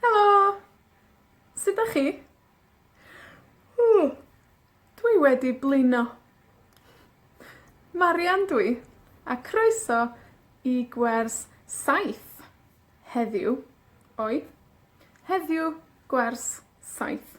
Helo! Sud 'dach chi? Ww, dwi wedi blino. Marian dw i, a croeso i gwers saith. Heddiw, oi, heddiw, gwers saith.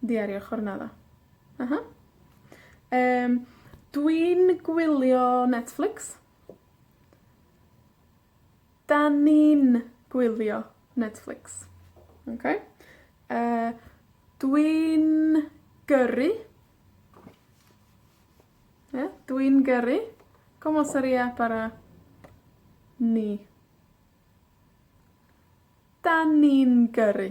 Diario Jornada. Ah ha. Yym, dwi'n gwylio Netflix. 'Dan ni'n gwylio Netflix. Oce? Yy, dwi'n gyrru. Ia? Dwi'n gyrru. Como seria para ni? 'Dan ni'n gyrru.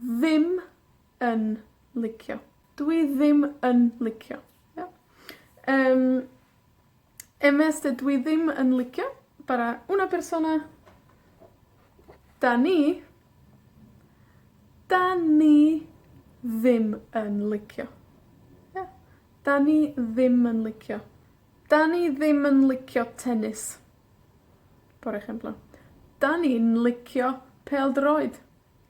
ddim yn licio. Dw i ddim yn licio. Iawn? Yym, MSG, dw i ddim yn licio, bara una persona, 'dan ni, 'dan ni ddim yn licio. Ia? 'Dan ni ddim yn licio. 'Dan ni ddim yn licio tenis. Por ehemplo, 'Dan ni'n licio pêl-droed.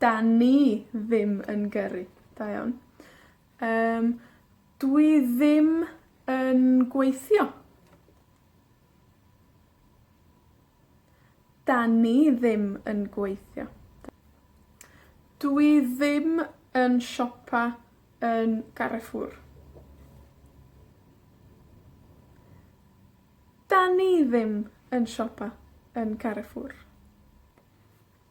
'Dan ni ddim yn gyrru. Da iawn. Yym, dwi ddim yn gweithio. 'Dan ni ddim yn gweithio. Dw i ddim yn siopa yn Carrefour. 'Dan ni ddim yn siopa yn Carrefour.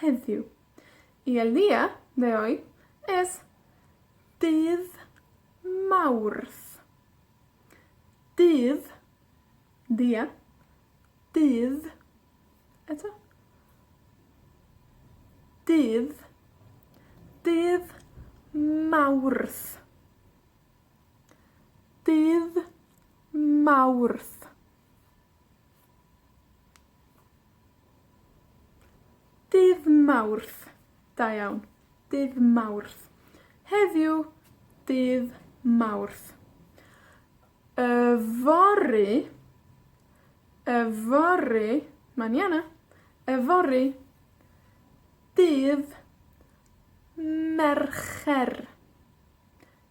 heddiw. I Elia, fe oe-, es, dydd Mawrth. Dydd, dia, dydd, eto, dydd, dydd Mawrth. Dydd Mawrth. Dydd Mawrth. Da iawn. Dydd Mawrth. Heddiw, dydd Mawrth. Yfory, yfory, maniana, yfory, dydd Mercher.